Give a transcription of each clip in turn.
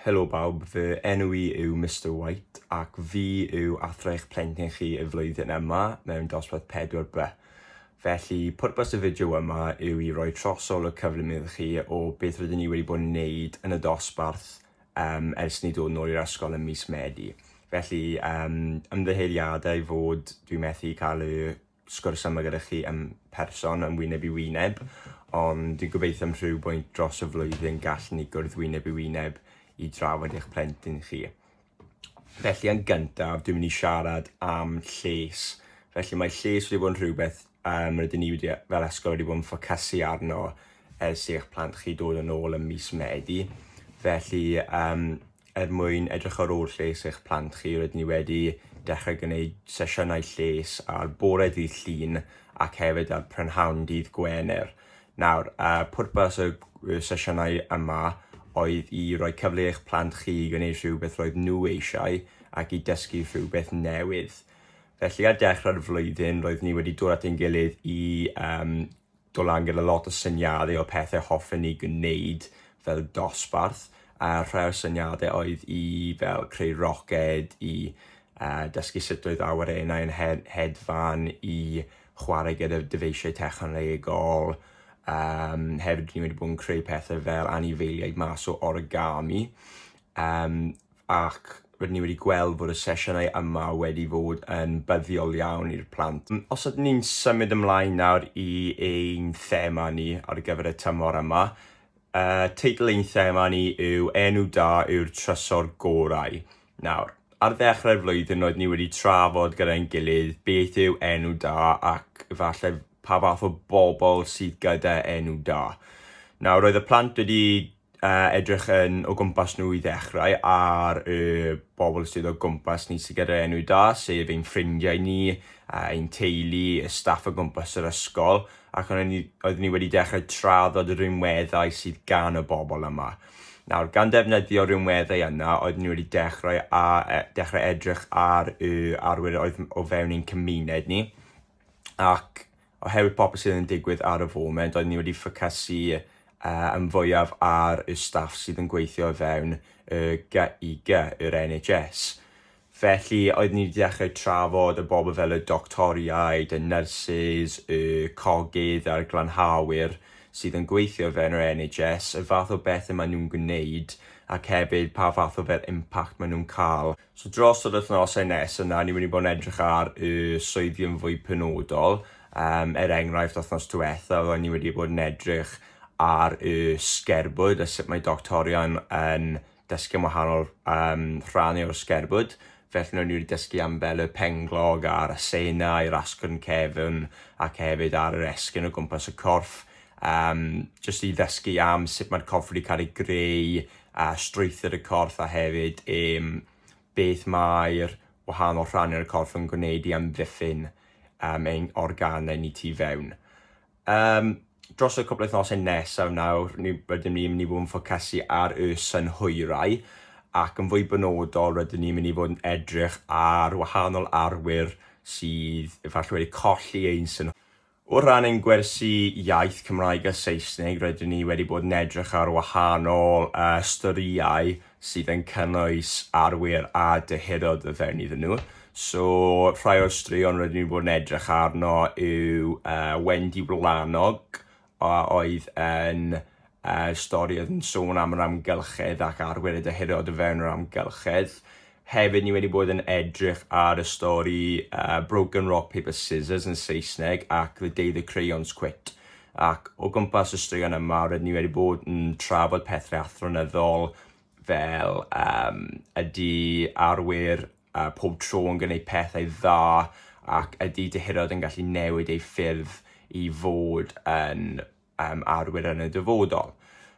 Helo bawb, fy enw i yw Mister White ac fi yw athro eich plentyn chi y flwyddyn yma mewn dosbarth 4B. Felly, pwrpas y fideo yma yw i roi trosol y cyflym iddo chi o beth rydyn ni wedi bod yn neud yn y dosbarth um, ers ni dod nôl i'r ysgol ym mis Medi. Felly, um, ymddeheuriadau fod dwi methu cael y sgwrs yma gyda chi yn person, yn wyneb i wyneb, ond dwi'n gobeithio am rhyw bwynt dros y flwyddyn gallwn ni gwrdd wyneb i wyneb i drafod eich plentyn chi. Felly yn gyntaf, dwi'n mynd i siarad am lles. Felly mae lles wedi bod yn rhywbeth um, rydyn ni wedi, fel ysgol wedi bod yn ffocysu arno ers i eich plant chi dod yn ôl ym mis Medi. Felly, um, Er mwyn edrych ar ôl lles eich plant chi, rydyn ni wedi dechrau gwneud sesiynau lles ar bore dydd Llun ac hefyd ar prynhawn dydd Gwener. Nawr, pwrpas y sesiynau yma oedd i roi cyfle i eich plant chi i gwneud rhywbeth roedd nhw eisiau ac i dysgu rhywbeth newydd. Felly ar dechrau'r flwyddyn roedd ni wedi dod at ein gilydd i um, dod lan gyda lot o syniadau o pethau hoffen ni gwneud fel dosbarth, a rhai o'r syniadau oedd i fel creu roced, i uh, dysgu sut oedd awyrennau yn he hedfan, i chwarae gyda dyfeisiau technolegol, um, hefyd ni wedi bod yn creu pethau fel anifeiliaid mas o origami. Um, ac rydyn ni wedi gweld fod y sesiynau yma wedi fod yn buddiol iawn i'r plant. Os ydyn ni'n symud ymlaen nawr i ein thema ni ar gyfer y tymor yma, uh, teitl ein thema ni yw Enw Da yw'r Trysor Gorau. Nawr, ar ddechrau'r flwyddyn roedd ni wedi trafod gyda'n gilydd beth yw enw da ac efallai pa fath o bobl sydd gyda enw da. Nawr, roedd y plant wedi uh, edrych yn o gwmpas nhw i ddechrau ar y bobl sydd o gwmpas ni sydd gyda'r enw da, sef ein ffrindiau ni, uh, ein teulu, y staff o gwmpas yr ysgol, ac oeddwn ni, oedd ni wedi dechrau traddod y rhinweddau sydd gan y bobl yma. Nawr, gan ddefnyddio rhinweddau yna, oedd ni wedi dechrau, a, e, dechrau edrych ar y arwyr oedd o fewn ein cymuned ni, ac oherwydd popeth sydd yn digwydd ar y foment, oedden ni wedi ffocysu yy yn fwyaf ar y staff sydd yn gweithio o fewn y GIG, yr NHS. Felly, oedden ni wedi dechrau trafod y bobl fel y doctoriaid, y nyrsys, y cogydd a'r glanhawyr sydd yn gweithio o fewn yr NHS, y fath o bethau maen nhw'n gwneud ac hefyd pa fath o fel impact maen nhw'n cael. So dros yr wythnosau nes yna, ni'n mynd i bod yn edrych ar y swyddi yn fwy penodol. Um, er enghraifft, wythnos diwetha, roeddwn ni wedi bod yn edrych ar y sgerbwd a sut mae doctorion yn dysgu am wahanol um, rhannau o'r sgerbwd. Felly nhw'n wedi dysgu am fel y penglog a'r asena i'r asgwrn cefn ac hefyd ar yr esgyn o gwmpas y corff. Um, just i ddysgu am sut mae'r corff wedi cael ei greu a strwythur y corff a hefyd um, beth mae'r wahanol rhannau o'r corff yn gwneud i amddiffyn um, ein organau ni tu fewn. Um, dros y cwbl wythnosau nesaf nawr, ni, rydym ni'n mynd i fod yn ffocysu ar y synhwyrau ac yn fwy benodol rydym ni'n mynd i fod yn edrych ar wahanol arwyr sydd efallai wedi colli ein synhwyrau O ran ein gwersi iaith Cymraeg a Saesneg, rydyn ni wedi bod yn edrych ar wahanol storïau sydd yn cynnwys arwyr a dyheadod o fewn iddyn nhw. So, rhai o'r straeon rydyn ni wedi bod yn edrych arno yw uh, Wendy Wlanog, a oedd yn y stori oedd yn sôn am yr amgylchedd ac arwyr y dyheadod o fewn yr amgylchedd. Hefyd, ni wedi bod yn edrych ar y stori uh, Broken Rock Paper Scissors yn Saesneg ac The Day the Crayons Quit. Ac o gwmpas y straeon yma, rydyn ni wedi bod yn trafod pethau athronyddol fel um, ydy arwyr uh, pob tro yn gwneud pethau dda ac ydy dyheadod yn gallu newid ei ffyrdd i fod yn um, arwyr yn y dyfodol.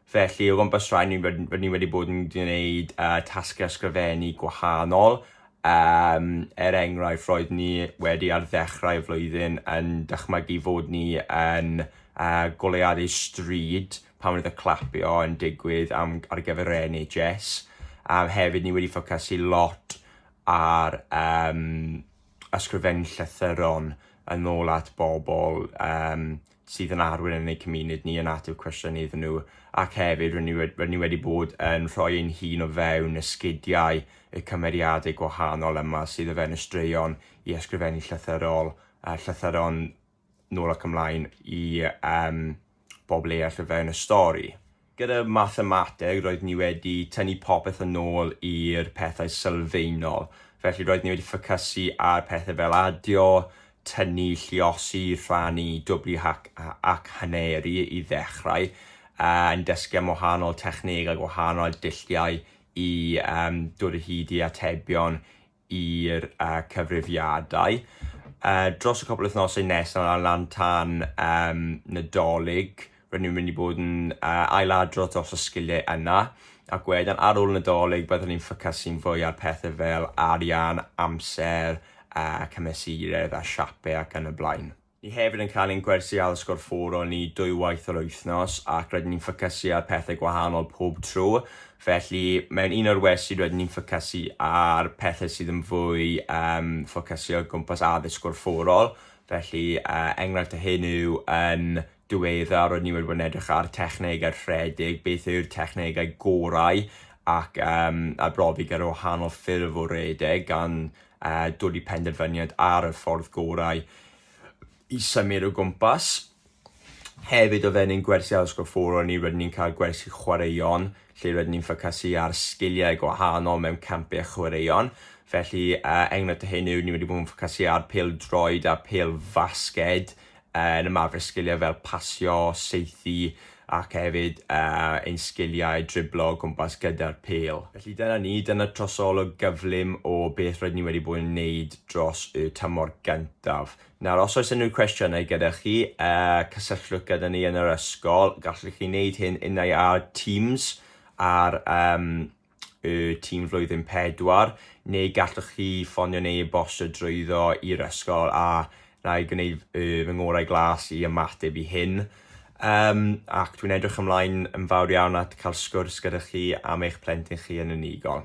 Felly, o gwmpas rhaid ni, rydyn ni wedi bod yn gwneud uh, tasgau ysgrifennu gwahanol. Um, er enghraifft, roedd ni wedi ar ddechrau y flwyddyn yn dychmygu fod ni yn uh, goleuadau stryd pan roedd y clapio yn digwydd am, ar gyfer yr NHS. Um, hefyd, ni wedi ffocysu lot ar um, ysgrifennu llythyron yn ôl at bobl um, sydd yn arwyr yn eu cymuned ni yn ateb cwestiynau iddyn nhw ac hefyd rydyn ni, rydyn ni wedi bod yn rhoi ein hun o fewn esgidiau y cymeriadau gwahanol yma sydd o fewn y straeon i ysgrifennu llythyrol, uh, llythyron nôl ac ymlaen i um, bobl eraill o fewn y stori. Gyda mathemateg, roedd ni wedi tynnu popeth yn ôl i'r pethau sylfaenol. Felly, roedd ni wedi ffocysu ar pethau fel adio, tynnu, lluosi, rhannu, dwbli hac, ac haneru i ddechrau, yn dysgu am wahanol technegau, gwahanol dulliau i um, dod o hyd i atebion i'r cyfrifiadau dros y cwpl wythnosau nesaf ar lan tan Nadolig. Rydyn ni'n mynd i bod yn ail-adrodd dros y sgiliau yna ac wedyn ar ôl Nadolig byddwn ni'n ffocysu'n fwy ar pethau fel arian, amser, cymesuraeth a siapau ac yn y blaen. Ni hefyd yn cael ein gwersi ail sgôr ffwrol ni dwywaith yr wythnos ac rydyn ni'n ffocysu ar pethau gwahanol pob tro. Felly, mewn un o'r wersi rydyn ni'n ffocysu ar pethau sydd yn fwy um, ffocysu o gwmpas addysg gorfforol. Felly, uh, enghraifft o hyn yw yn diwedda roedd ni wedi bod yn edrych ar technegau rhedeg, beth yw'r technegau gorau ac um, arbrofi gyda wahanol ffurf o redeg gan uh, dod i penderfyniad ar y ffordd gorau i symud o gwmpas. Hefyd o fewn ein gwersi addysg fforo ni rydyn ni'n cael gwersi chwaraeon lle rydyn ni'n ffocysu ar sgiliau gwahanol mewn campau a chwaraeon. Felly uh, enghraifft o hyn yw ni wedi bod yn ffocysu ar pel droed a pel fasged yn ymarfer sgiliau fel pasio, saethu ac hefyd ein sgiliau driblo o gwmpas gyda'r pêl. Felly dyna ni, dyna trosolwg gyflym o beth rydyn ni wedi bod yn wneud dros y tymor gyntaf. Nawr, os oes unrhyw cwestiynau gyda chi, cysylltwch gyda ni yn yr ysgol. Gallwch chi wneud hyn unai ar Teams ar y tîm flwyddyn pedwar, neu gallwch chi ffonio neu e-bostio drwyddo i'r ysgol a na i gwneud y, fy ngorau glas i ymateb i hyn. Um, ac dwi'n edrych ymlaen yn fawr iawn at cael sgwrs gyda chi am eich plentyn chi yn unigol.